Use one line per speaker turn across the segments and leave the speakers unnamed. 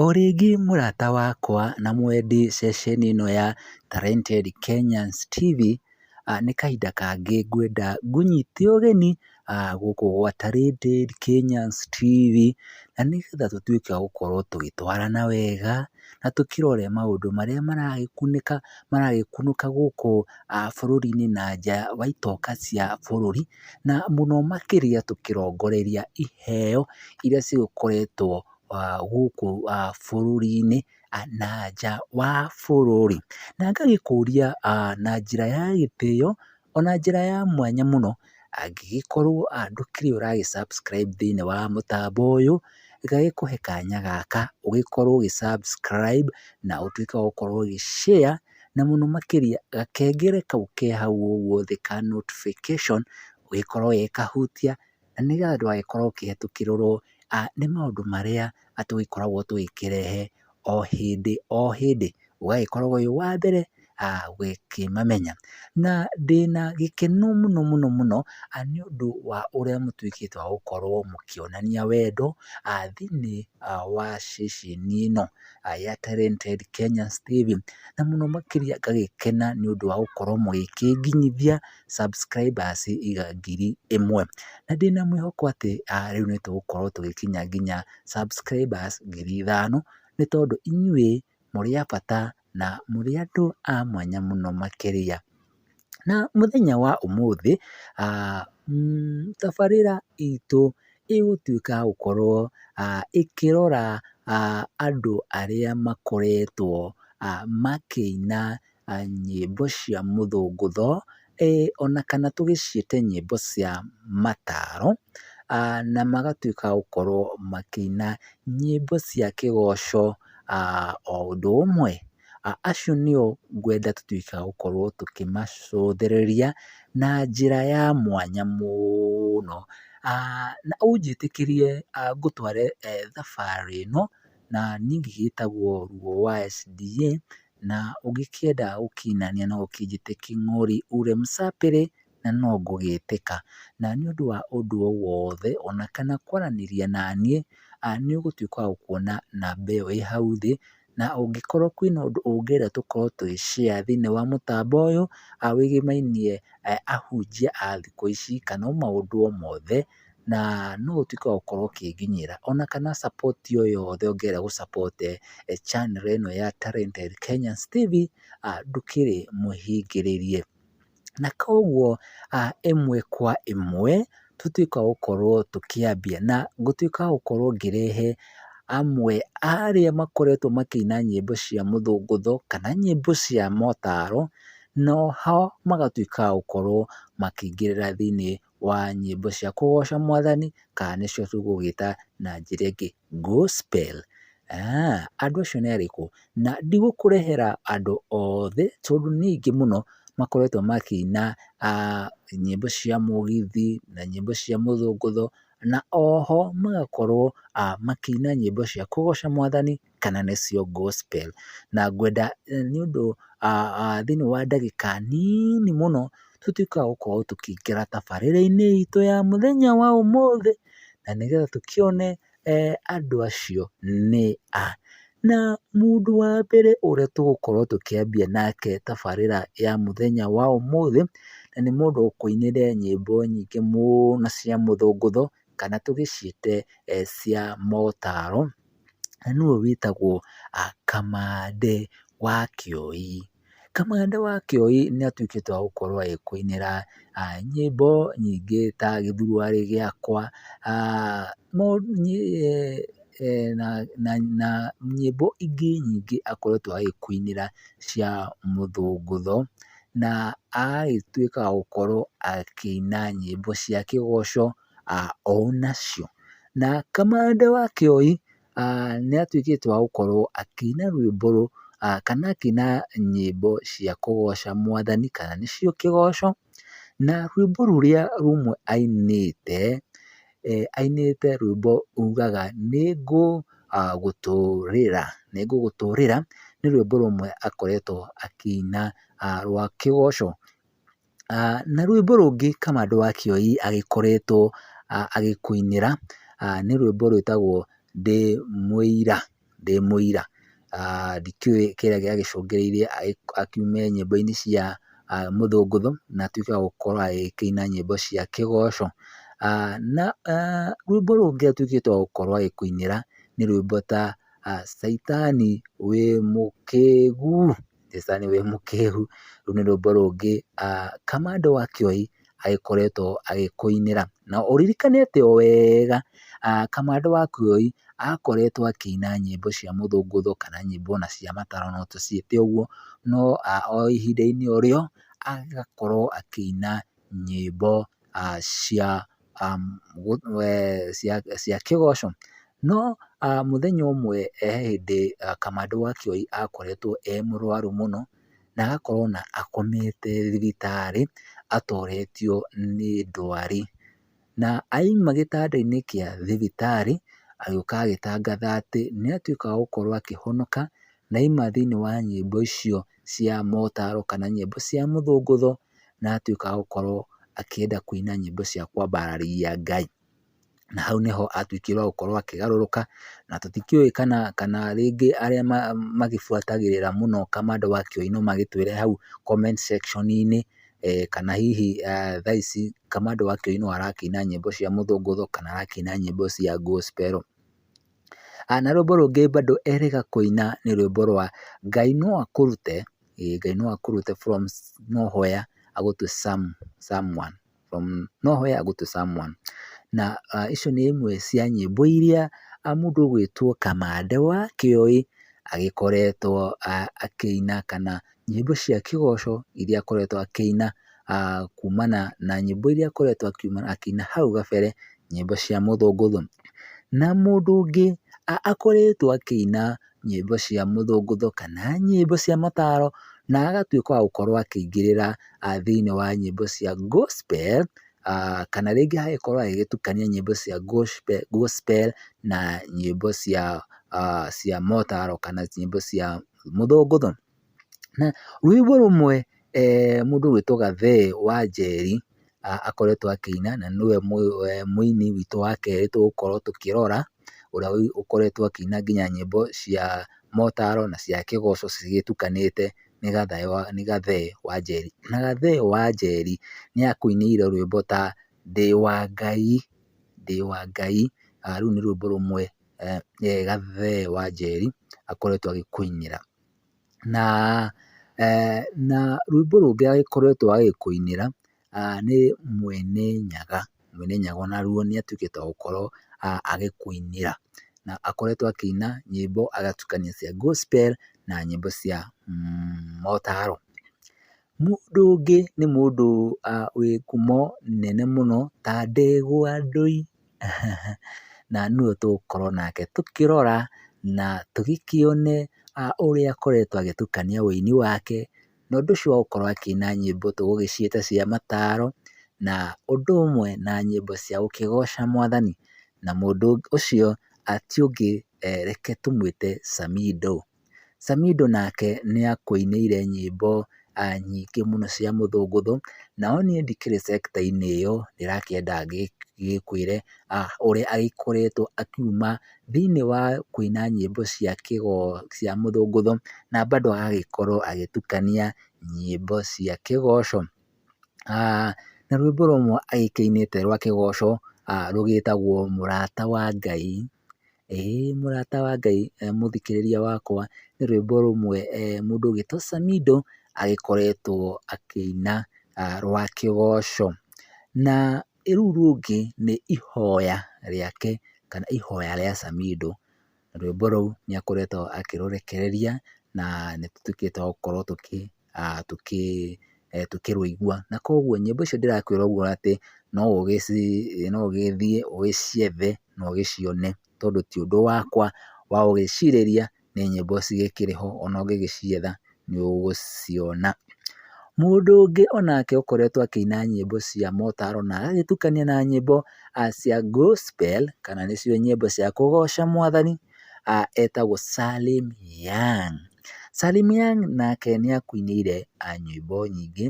O rĩngĩ mũrata wakwa na mwendi ceceni ĩno ya Talented Kenyans TV, nĩ kahinda kangĩ ngwenda ngũnyite ũgeni gũkũ gwa Talented Kenyans TV, na nĩgetha tũtuĩke a gũkorwo tũgĩtwarana wega, na tũkĩrore maũndũ marĩa maragĩkunĩka, maragĩkunũka gũkũ bũrũri-inĩ na nja wa itoka cia bũrũri. na mũno makĩria tũkĩrongoreria iheo iria cigũkoretwo gũkũ bũrũri-inĩ na nja wa bũrũri. Na ngagĩkũria na njĩra ya gĩtĩo ona njĩra ya mwanya mũno, angĩgĩkorwo ndũkĩrĩ ũra gĩ subscribe thĩiniĩ wa mũtambo ũyũ, gagĩkũhe kanya gaka ũgĩkorwo ũgĩ subscribe na ũtuĩke wa gũkorwo ũgĩ share. na mũno makĩria gakengere kau ke hau ũguo thĩ ka notification ũgĩkorwo ũgĩkahutia na nĩgetha ndũgagĩkorwo ũkĩhĩtũkĩrĩrwo nĩ maũndũ marĩa tũgĩkoragwo tũgĩkĩrehe o hĩndĩ o hĩndĩ, ũgagĩkorwo wĩ wa mbere gũkĩmamenya. Na ndĩna gĩkeno mũno mũno mũno nĩ ũndũ wa ũrĩa mũtuĩkĩte wa gũkorwo mũkĩonania wendo thĩiniĩ wa ceceni ĩno. ya Talented Kenya Steve, na mũno makĩria ngagĩkena nĩ ũndũ wa gũkorwo mũgĩkĩnginyithia subscribers ngiri ĩmwe, na ndĩna mwĩhoko atĩ rĩu nĩ tũgũkorwo tũgĩkinya nginya subscribers ngiri ithano, nĩ tondũ inyuĩ mũrĩ a bata na mũrĩ andũ a mwanya mũno makĩria. Na mũthenya wa ũmũthĩ, tabarĩra itũ ĩgũtuĩka ya gũkorwo ĩkĩrora andũ arĩa makoretwo makĩina nyĩmbo cia mũthũngũtho, ona kana tũgĩciĩte nyĩmbo cia mataro, na magatuĩka a gũkorwo makĩina nyĩmbo cia kĩgoco o ũndũ ũmwe. Acio nĩo ngwenda tũtuĩke a gũkorwo tũkĩmacũthĩrĩria na njĩra ya mwanya mũno. Na ũnjĩtĩkĩrie ngũtware thabarĩ ĩno, na niĩ ngĩgĩtagwo Luo wa SDA, na ũngĩkĩenda gũkinania no ũkĩnjĩte King'ori ule msapere na no ngũgĩtĩka. Na nĩ ũndũ wa ũndũ o wothe ona kana kwaranĩria naniĩ, nĩ ũgũtuĩka wa gũkuona namba ĩyo ĩ hau thĩ, na ũngĩkorwo kwĩna ũndũ ũngĩenda tũkorwo tũgĩ share thĩinĩ wa mũtambo ũyũ, wĩgĩmainie ahunjia a thikũ ici, kana o maũndũ o mothe, na no ũtuĩke wa gũkorwo ũkĩnginyĩra, ona kana support o yothe ũngĩenda gũ support channel ĩno ya Talented Kenyans TV, ndũkĩrĩ mũhingĩrĩrie. Na koguo ĩmwe kwa ĩmwe, tũtuĩkaga gũkorwo tũkĩambia, na ngũtuĩka wa gũkorwo ngĩrehe amwe a arĩa makoretwo makĩina nyĩmbo cia mũthũngũtho, kana nyĩmbo cia motaro, noho magatuĩka a gũkorwo makĩingĩrĩra thĩiniĩ wa nyĩmbo cia kũgoca mwathani kana nĩcio tũgũgĩta na njĩra ĩngĩ Gospel. Andũ acio nĩ arĩkũ? Na ndigũkũrehera andũ othe tondũ nĩ aingĩ mũno makoretwo makĩina nyĩmbo cia mũgithi na nyĩmbo cia mũthũngũtho na oho magakorwo makĩina nyĩmbo cia kũgoca mwathani kana nĩcio gospel. Na ngwenda nĩ ũndũ thĩinĩ wa ndagĩka nini mũno tũtuĩke a gũkorwo tũkĩingĩra tabarĩra-inĩ itũ ya mũthenya wa ũmũthĩ, na nĩgetha tũkĩone andũ acio nĩ a. Na mũndũ wa mbere ũrĩa tũgũkorwo tũkĩambia nake tabarĩra ya mũthenya wa ũmũthĩ, na nĩ mũndũ ũkũinĩre nyĩmbo nyingĩ mũno cia mũthũngũtho, kana tũgĩciĩte cia motaro. na nĩwe wĩtagwo Kamande wa Kĩoi. Kamande wa Kĩoi nĩ atuĩkĩte wa gũkorwo agĩkũinĩra nyĩmbo nyingĩ ta Gĩthuruarĩ gĩakwa, na nyĩmbo ingĩ nyingĩ akoretwo agĩkũinĩra cia mũthũngũtho, na agagĩtuĩka wa gũkorwo akĩina nyĩmbo cia kĩgoco. onacio. Na kamande wa Kĩoi nĩ atuĩkĩte wa gũkorwo akĩina rwĩmbo kana akĩina nyĩmbo cia kũgoca mwathani kana nĩcio kĩgoco. Na rwĩmbo rũrĩa rũmwe ainĩte, ainĩte rwĩmbo rugaga "Nĩ ngũgũtũrĩra, nĩ ngũgũtũrĩra" nĩ rwĩmbo rũmwe akoretwo akĩina rwa kĩgoco. Na rwĩmbo rũngĩ Kamande wa Kĩoi agĩkoretwo agĩkũinĩra nĩ rwĩmbo rwĩtagwo Ndĩ Mũira, Ndĩ Mũira. Ndikĩũĩ kĩrĩa gĩacũngĩrĩirie akiume nyĩmbo-inĩ cia mũthũngũtho na atuĩke wa gũkorwo agĩkĩina nyĩmbo cia kĩgoco. Na rwĩmbo rũngĩ atuĩkĩte wa gũkorwo agĩkũinĩra nĩ rwĩmbo ta Caitani wĩ mũkĩgu. Jesũ sir nĩwe mũkĩgu, rũu nĩ rwĩmbo rũngĩ Kamande wa Kĩoi agĩkoretwo agĩkũinĩra, na ũririkane atĩ o wega Kamande wa Kĩoi akoretwo akĩina nyĩmbo cia mũthũngũtho kana nyĩmbo ona cia mataro no tũciĩte ũguo, no o ihinda-inĩ o rĩo agakorwo akĩina nyĩmbo cia cia kĩgoco, no mũthenya ũmwe he hĩndĩ kamande wa kioi akoretwo e mũrwaru mũno na agakorwo ona akomete thibitarĩ atoretio nĩ ndwari, na aima gĩtanda-inĩ kĩa thibitarĩ agĩũka agĩtangatha atĩ nĩ atuĩka wa gũkorwo akĩhonoka na aima thĩiniĩ wa nyĩmbo icio cia motaro kana nyĩmbo cia mũthũngũtho. na agatuĩka wa gũkorwo akĩenda kũina nyĩmbo cia kwambararĩia Ngai. Na hau nĩho atuĩkire wa gũkorwo akĩgarũrũka, na tũtikĩũĩ kana kana rĩngĩ arĩa magĩbuatagĩrĩra mũno kamande wa kĩũino magĩtwĩre hau comment section -inĩ kana hihi thaa ici kamande wa kĩũino arakĩina nyĩmbo cia mũthũngũtho kana arakĩina nyĩmbo cia gospel. Na rwĩmbo rũngĩ bado erĩga kũina nĩ rwĩmbo rwa Ngai no akũrute, ĩĩ Ngai no akũrute from no hoya agũtue some someone from no hoya agũtue someone na icio nĩ imwe cia nyĩmbo iria mũndũ ũgwĩtwo Kamande wa Kĩoi agĩkoretwo akĩina kana nyĩmbo cia kĩgoco iria akoretwo akĩina kumana na nyĩmbo iria akoretwo akĩina hau gabere, nyĩmbo cia mũthũngũtho. Na mũndũ ũngĩ akoretwo akĩina nyĩmbo cia mũthũngũtho kana nyĩmbo cia mataro na agatuĩka wa gũkorwo akĩingĩrĩra thĩiniĩ wa nyĩmbo cia Gospel, kana rĩngĩ agagĩkorwo agĩgĩtukania nyĩmbo cia Gospel na nyĩmbo cia motaro kana nyĩmbo cia mũthũngũtho. Na rwĩmbo rũmwe mũndũ ũgwĩtwo Gathee wa Njeri akoretwo akĩina, na nĩwe mũini witũ wa kerĩ tũgũkorwo tũkĩrora, ũrĩa ũkoretwo akĩina nginya nyĩmbo cia motaro na cia kĩgoco cigĩtukanĩte nĩ Gathee wa Njeri. Na Gathee wa Njeri nĩ akũinĩire rwĩmbo ta, Ndĩ wa Ngai, Ndĩ wa Ngai, rũu nĩ rwĩmbo rũmwe gathee Wanjeri akoretwo agĩkũinĩra. Na na rwĩmbo rũngĩ akoretwo agĩkũinĩra nĩ Mwene Nyaga, Mwene Nyaga o naruo nĩ atuĩkĩte wa gũkorwo agĩkũinĩra. Na akoretwo akĩina nyĩmbo agatukania cia gospel na nyĩmbo cia motaro. Mũndũ ũngĩ nĩ mũndũ wĩ ngumo nene mũno ta Ndegwa Ndũi. na nũ ũyũ tũgũkorwo nake tũkĩrora na tũgĩkĩone ũrĩa akoretwo agĩtukania ũini wake, na ũndũ ũcio wa gũkorwo akĩina nyĩmbo tũgũgĩciĩta cia mataro, na ũndũ ũmwe na nyĩmbo cia gũkĩgoca mwathani, na mũndũ ũcio ti ũngĩ reke tũmwĩte Samindo. Samido nake nĩakũinĩire nyĩmbo nyingĩ mũno cia mũthũngũtho, nao niĩ ndikĩrĩ sector -inĩ ĩyo, ndĩrakĩenda ngĩkwĩre ũrĩa agĩkoretwo akiuma thĩiniĩ wa kũina nyĩmbo cia cia mũthũngũtho, na bado agagĩkorwo agĩtukania nyĩmbo cia kĩgoco. Na rwĩmbo rũmwe agĩkĩinĩte rwa kĩgoco rũgĩtagwo mũrata wa Ngai. Ĩ mũrata wa Ngai mũthikĩrĩria wakwa, nĩ rwĩmbo rũmwe mũndũ ũgwĩtwo Samido agĩkoretwo akĩina rwa kĩgoco. Na rũu rũngĩ nĩ ihoya rĩake kana ihoya rĩa Samido. Rwĩmbo rũu nĩ akoretwo akĩrũrekereria na nĩ tũtuĩkĩte twa gũkorwo tũkĩ... tũkĩrũigua. Na koguo nyĩmbo icio ndĩrakwĩra ũguo atĩ no ũgĩthiĩ ũgĩciethe na ũgĩcione tondũ ti ũndũ wakwa wa gũgĩcirĩria, nĩ nyĩmbo cigĩkĩrĩ ho ona ũngĩgĩcietha nĩ ũgũciona. Mũndũ ũngĩ onake ũkoretwo akĩina nyĩmbo cia motaro na agagĩtukania na nyĩmbo cia gospel kana nĩcio nyĩmbo cia kũgoca mwathani. etagwo Salim Young. Salim Young nake nĩ akũinĩire nyĩmbo nyingĩ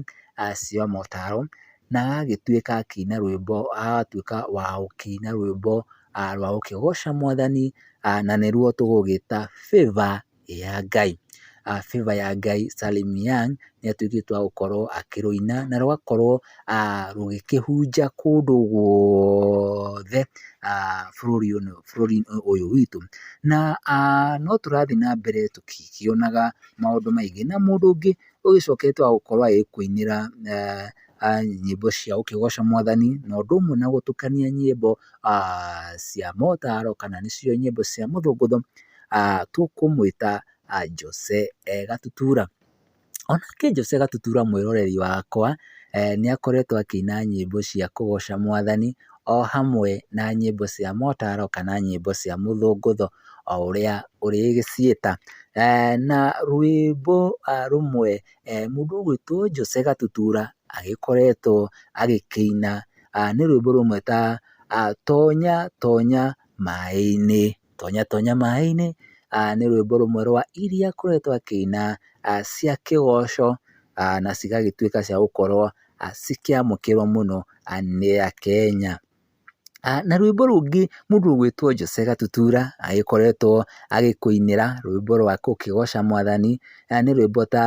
cia motaro na agagĩtuĩka akĩina rwĩmbo, agatuĩka wa gũkĩina rwĩmbo rwa gũkĩgoca mwathani na nĩruo tũgũgĩta Favour ya Ngai. Favour ya Ngai Salim Young nĩ atuĩkĩte wa gũkorwo akĩrũina na rũgakorwo rũgĩkĩhunja kũndũ guothe bũrũri-inĩ ũyũ witũ. Na no tũrathiĩ na mbere tũkĩkĩonaga maũndũ maingĩ na mũndũ ũngĩ ũgĩcokete wa gũkorwo agĩkũinĩra nyĩmbo cia gũkĩgoca mwathani na ũndũ ũmwe na gũtukania nyĩmbo cia motaro kana nĩcio nyĩmbo cia mũthũngũtho, tũkũmwĩta Jose Gatutura. O nake Jose Gatutura mwĩroreri wakwa nĩ akoretwo akĩina nyĩmbo cia kũgoca mwathani o hamwe na nyĩmbo cia motaro kana nyĩmbo cia mũthũngũtho o ũrĩa ũrĩgĩciĩta. Na rwĩmbo rũmwe mũndũ ũgwĩtwo Jose Gatutura agĩkoretwo agĩkĩina nĩ rwĩmbo rũmwe ta, Tonya tonya maĩ-inĩ. Tonya tonya maĩ-inĩ nĩ rwĩmbo rũmwe rwa iria akoretwo akĩina cia kĩgoco na cigagĩtuĩka cia gũkorwo cikĩamũkĩrwo mũno nĩ Akenya. Na rwĩmbo rũngĩ mũndũ ũgwĩtwo Jose Gatutura agĩkoretwo agĩkũinĩra rwĩmbo rwa gũkĩgoca mwathani nĩ rwĩmbo ta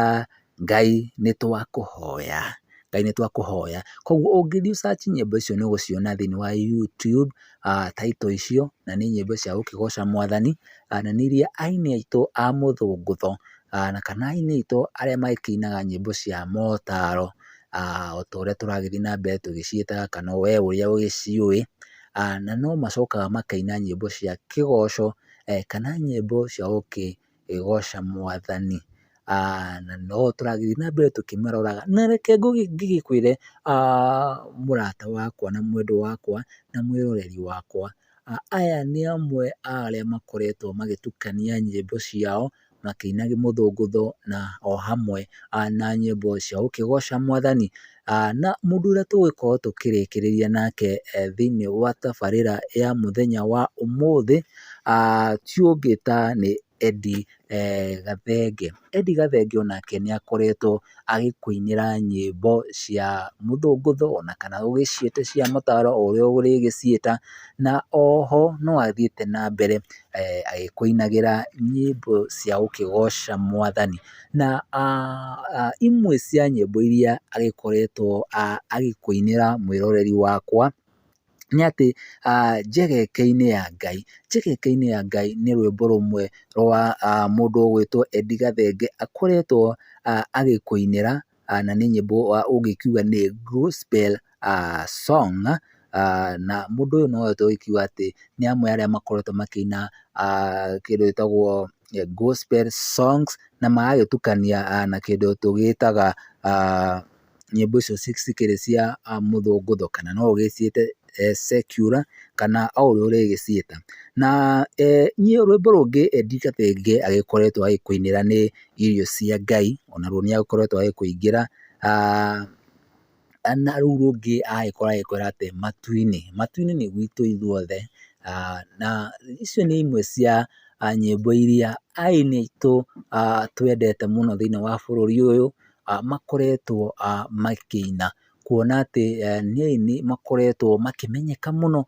Ngai nĩ twakũhoya, Ngai nĩ twakũhoya. Koguo ũngĩthiĩ ũ search nyĩmbo icio nĩ ũgũciona thĩinĩ wa YouTube, title icio, na nĩ nyĩmbo cia gũkĩgoca Mwathani, na nĩ iria aini aitũ a mũthũngũtho, na kana aini aitũ arĩa makĩinaga nyĩmbo cia motaro, o ta ũrĩa tũragĩthiĩ na mbere tũgĩciĩtaga kana we ũrĩa ũgĩciũĩ, na no macokaga makaina nyĩmbo cia kĩgoco, kana nyĩmbo cia gũkĩgoca ĩgooca mwathani. Na noguo tũragĩthiĩ na mbere tũkĩmaroraga. Na reke ngĩgĩkwĩre mũrata wakwa na mwendwa wakwa na mwĩroreri wakwa, aya nĩ amwe a arĩa makoretwo magĩtukania nyĩmbo ciao makĩinagia mũthũngũtho na o hamwe na nyĩmbo cia gũkĩgooca mwathani. na mũndũ ũrĩa tũgũgĩkorwo tũkĩrĩkĩrĩria nake thĩinĩ wa tabarĩra ya mũthenya wa ũmũthĩ, ti ũngĩ ta nĩ Eddy Gathenge. Eddy Gathenge o nake nĩ akoretwo agĩkũinĩra nyĩmbo cia mũthũngũtho ona kana ũgĩciĩte cia mataro o ũrĩa ũrĩgĩciĩta, na oho no athiĩte na mbere agĩkũinagĩra nyĩmbo cia gũkĩgoca mwathani. na imwe cia nyĩmbo iria agĩkoretwo agĩkũinĩra mwĩroreri wakwa, nĩ atĩ Njegeke-inĩ ya Ngai. Njegeke-inĩ ya Ngai nĩ rwĩmbo rũmwe rwa mũndũ ũgwĩtwo Edie Gathenge akoretwo agĩkũinĩra. na nĩ nyĩmbo ũngĩkiuga nĩ Gospel song na mũndũ ũyũ no ahote gũkiuga atĩ nĩ amwe a arĩa makoretwo makĩina kĩndũ gĩtagwo Gospel songs na magagĩtukania na kĩndũ tũgĩtaga nyĩmbo icio cikĩrĩ cia mũthũngũtho kana no ũgĩciĩte secular kana o ũrĩa ũrĩgĩciĩta. Na niĩ rwĩmbo rũngĩ Ndiritu Thenge agĩkoretwo agĩkũinĩra nĩ irio cia Ngai, ona ruo nĩ akoretwo agĩkũingĩra, na rũu rũngĩ agagĩkorwo agĩkwĩra atĩ matu-inĩ, matu-inĩ nĩ gwitũ ithuothe, na icio nĩ imwe cia nyĩmbo iria aini aitũ twendete mũno thĩiniĩ wa bũrũri ũyũ, makoretwo makĩina, kuona atĩ nĩ aini makoretwo makĩmenyeka mũno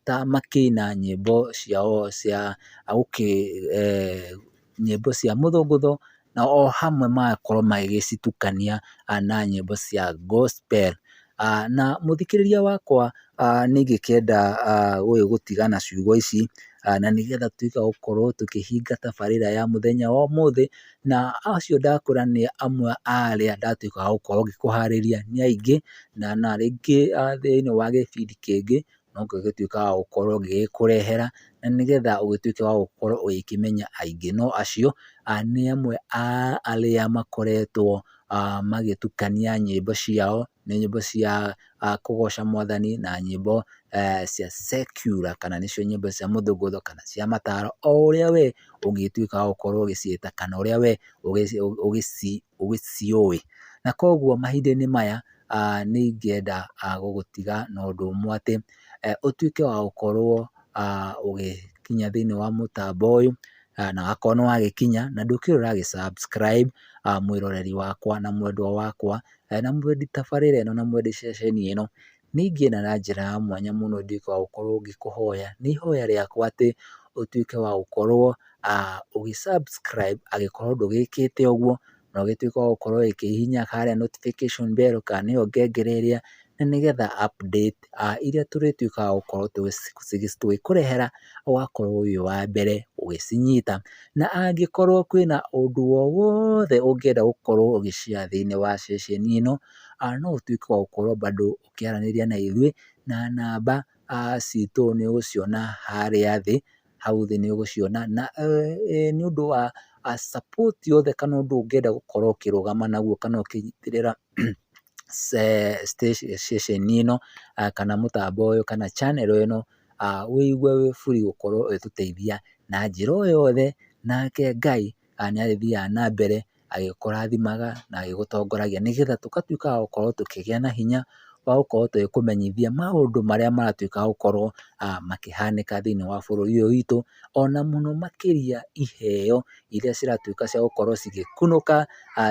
ta makĩina nyĩmbo ciao cia gũkĩ nyĩmbo cia mũthũngũtho, na o hamwe magakorwo magĩgĩcitukania na nyĩmbo cia gospel. Na mũthikĩrĩria wakwa nĩ ingĩkĩenda ũyũ gũtiga na ciugo ici, na nĩgetha tuge gũkorwo tũkĩhinga tabarĩra ya mũthenya wa ũmũthĩ, na acio ndakũra nĩ amwe a arĩa ndatuĩka wa gũkorwo ngĩkũharĩria nĩ aingĩ, na rĩngĩ thĩiniĩ wa gĩbindi kĩngĩ no kĩo gĩtuĩkaga wa gũkorwo gĩgĩkũrehera, na nĩgetha ũgĩtuĩke wa gũkorwo ũgĩkĩmenya aingĩ. No acio nĩ amwe a arĩa makoretwo magĩtukania nyĩmbo ciao, nĩ nyĩmbo cia kũgoca mwathani na nyĩmbo cia secular kana nĩcio nyĩmbo cia mũthũngũtho kana cia mataro, o ũrĩa we ũngĩtuĩka wa gũkorwo ũgĩciĩta kana ũrĩa we ũgĩciũĩ. Na koguo mahinda-inĩ maya nĩ ingĩenda gũgũtiga na ũndũ ũmwe atĩ, ũtuĩke wa gũkorwo ũgĩkinya thĩiniĩ wa mũtambo ũyũ, na wakorwo nĩ wagĩkinya na ndũkĩrĩ ũra gĩ subscribe, mwĩroreri wakwa na mwendwa wakwa, na mwendi tabarĩra ĩno na mwendi ceceni ĩno, nĩ ingĩenda na njĩra ya mwanya mũno nduĩke wa gũkorwo ngĩkũhoya, nĩ ihoya rĩakwa atĩ ũtuĩke wa gũkorwo ũgĩ subscribe angĩkorwo ndũgĩkĩte ũguo, na ũgĩtuĩke wa gũkorwo ũgĩkĩhihinya harĩa notification bell kana nĩyo ngengere ĩrĩa, na nĩgetha update iria tũrĩtuĩkaga wa gũkorwo tũgĩkũrehera ũgakorwo wĩ wa mbere ũgĩcinyita. Na angĩkorwo kwĩna ũndũ o wothe ũngĩenda gũkorwo ũgĩ share thĩiniĩ wa ceceni ĩno, no ũtuĩke wa gũkorwo bado ũkĩaranĩria na ithuĩ na namba citũ nĩ ũgũciona harĩa thĩ, hau thĩ nĩ ũgũciona na nĩ ũndũ wa support yothe kana ũndũ ũngĩenda gũkorwo ũkĩrũgama naguo kana ũkĩnyitĩrĩra ceceni ĩno kana mũtambo ũyũ kana channel ĩno, wĩigue wĩ free gũkorwo ũgĩtũteithia na njĩra o yothe nake Ngai nĩ arĩthiaga na mbere agĩkũrathimaga na agĩgũtongoragia nĩgetha tũgatuĩka a gũkorwo tũkĩgĩa na hinya wa gũkorwo tũgĩkũmenyithia maũndũ marĩa maratuĩka gũkorwo makĩhanĩka thĩiniĩ wa bũrũri ũyũ witũ, ona mũno makĩria iheo iria ciratuĩka cia gũkorwo cigĩkunũka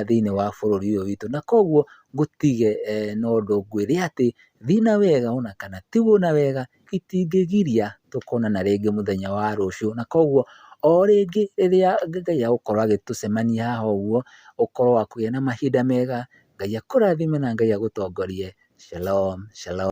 thĩiniĩ wa bũrũri ũyũ witũ. Na koguo ngũtige na ũndũ ngwĩre atĩ thiĩ na wega ona kana tigwo na wega itingĩgiria tũkonana rĩngĩ mũthenya wa rũciũ, na koguo o rĩngĩ rĩrĩa Ngai agũkorwo agĩtũcemania haha ũguo, ũkorwo wa kũgĩa na mahinda mega, Ngai akũrathime na Ngai agũtongorie. Shalom shalom.